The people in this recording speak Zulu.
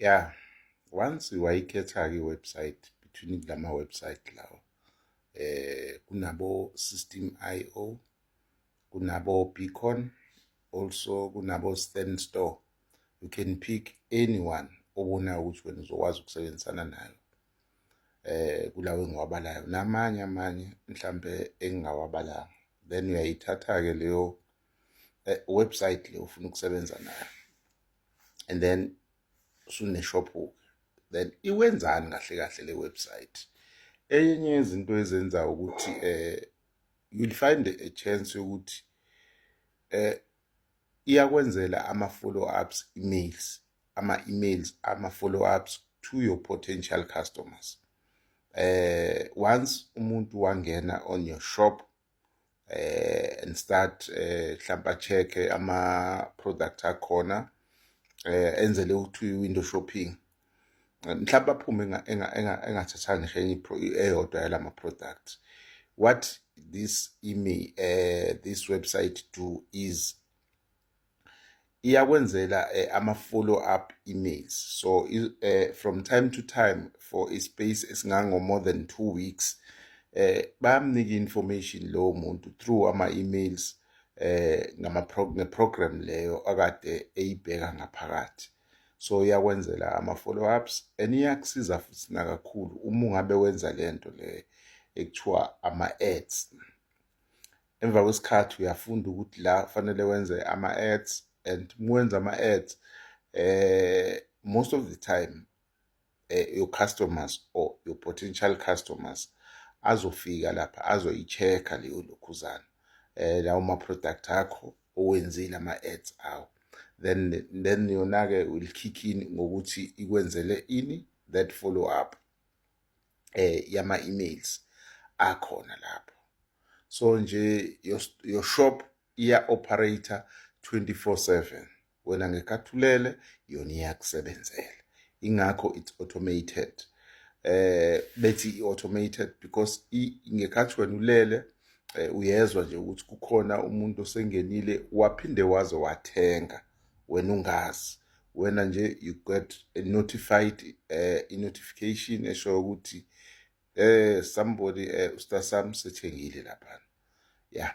ya once wayikhetha-ke i-website between la ma-website lawo eh kunabo-system i o kunabo-beacon also kunabo-stand store you can pick anyone obona ukuthi wena uzokwazi ukusebenzisana nayo eh kulawo engiwabalayo namanye amanye mhlambe engingawabalanga then uyayithatha-ke leyo eh, website le ufuna ukusebenza nayo and then usune shop then iwenzani kahle kahle le website enye izinto ezenza ukuthi eh you'll find a chance yokuthi eh iyakwenzela ama follow ups emails ama emails ama follow ups to your potential customers eh once umuntu wangena on your shop eh and start eh hlampa check ama product akhona eh enzele ukuthi window shopping mhlawumbe aphume engathathanga ngisho enye eyodwa yalama products what this email uh, eh, this website do is iyakwenzela eh, ama follow up emails so eh, from time to time for a space esingango more than 2 weeks eh bayamnika information lo muntu through ama emails eh ngama program leyo akade eyibheka ngaphakathi so iyakwenzela ama follow ups and iyakusiza futhi nakakhulu uma ungabe wenza lento le ekuthiwa ama ads emva kwesikhathi uyafunda ukuthi la kufanele wenze ama-ads and mwenza ama-ads eh most of the time eh, your customers or your potential customers azofika lapha azoyi-check-a leyo lokhuzana eh lawo ma-product akho owenzile ama-ads awo then then yona-ke will kick in ngokuthi ikwenzele ini that follow up eh yama emails akhona lapho so nje your, your shop iya operator 24/7 wena ngekathulele yona iyakusebenzela ingakho it's automated eh bethi i-automated because ngekhathi wena ulele eh, uyezwa nje ukuthi kukhona umuntu osengenile waphinde waze wathenga wena ungazi wena nje you got a notified uh, i notification esho ukuthi eh somebody eh usta sam sethengile lapha yeah